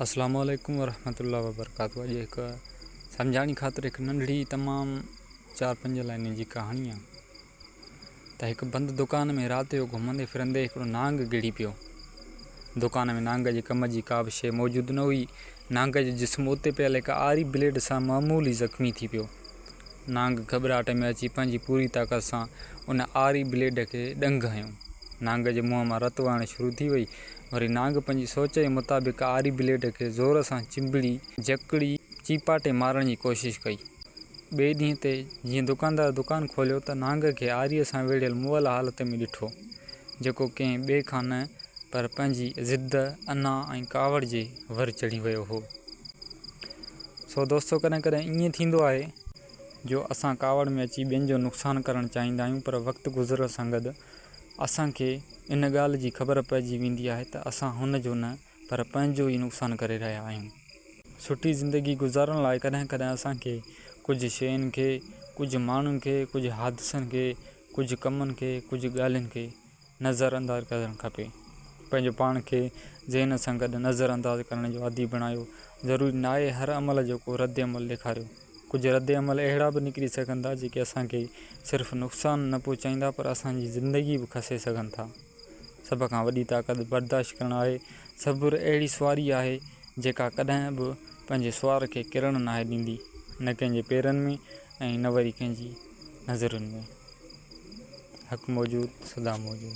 اسلام عليڪم ورحمة الله وبرڪاته اڄ هڪ سمجهاڻي خاطر هڪ ننڍڙي تمام چار پنج لائنين جي ڪهاڻي آهي ته هڪ بند دڪان ۾ رات جو گهمندي ڦرندي هڪڙو نانگ گڙي پيو دڪان ۾ نانگ جي ڪم جي ڪا به شيء موجود نه هئي نانگ جو جسم اتي پيل هڪ آري بليڊ سان معمولي زخمي ٿي پيو نانگ گهٻراهٽ ۾ اچي پنهنجي پوري طاقت سان ان آري بليڊ کي ڏنگ هنيو نانگ جي منهن مان رت وهڻ شروع ٿي وئي وري نانگ پنهنجي سوچ جي مطابق آري بليڊ کي زور سان چنبڙي، جڪڙي، چيپاٽي مارڻ جي ڪوشش ڪئي. ٻئي ڏينهن تي جيئن دڪاندار دڪان کوليو ته نانگ کي آري سان ويڙهيل مئل حالت ۾ ڏٺو، جيڪو ڪنهن ٻئي کان نه پر پنهنجي ضد، انا ۽ ڪاوڙ جي ور چڙهي ويو هو. سو دوستو ڪڏهن ڪڏهن ائين ٿيندو آهي جو اسان ڪاوڙ ۾ اچي ٻين جو نقصان ڪرڻ چاهيندا آهيون پر وقت گذرڻ سان گڏ اسان کي ان ڳالهه جي خبر پئجي ويندي آهي ته اسان هن جو نه پر پنهنجو ئي نقصان ڪري رهيا آهيون. سٺي زندگي گذارڻ لاء ڪڏهن ڪڏهن اسان کي ڪجهه شين کي، ڪجهه ماڻهن کي، ڪجهه حادثن کي، ڪجهه ڪمن کي، ڪجهه ڳالهين کي نظر انداز ڪرڻ کپي. پنهنجو پاڻ کي ذهن سان گڏ نظر انداز ڪرڻ جو عادي بڻايو. ضروري ناهي هر عمل جو ڪو رد عمل ڏيکاريو. ڪجهه رد عمل اهڙا به نڪري سگهن ٿا جيڪي اسان کي صرف نقصان نه پهچائيندا پر اسان جي زندگي به کسي سگهن ٿا. سڀ کان وڏي طاقت برداشت ڪرڻ آهي. صبر اهڙي سواري آهي جيڪا ڪڏهن به پنهنجي سوار کي ڪرڻ ناهي ڏيندي نه ڪنهن جي پيرن ۾ ۽ نه وري ڪنهن جي نظرن ۾. حق موجود سدا موجود.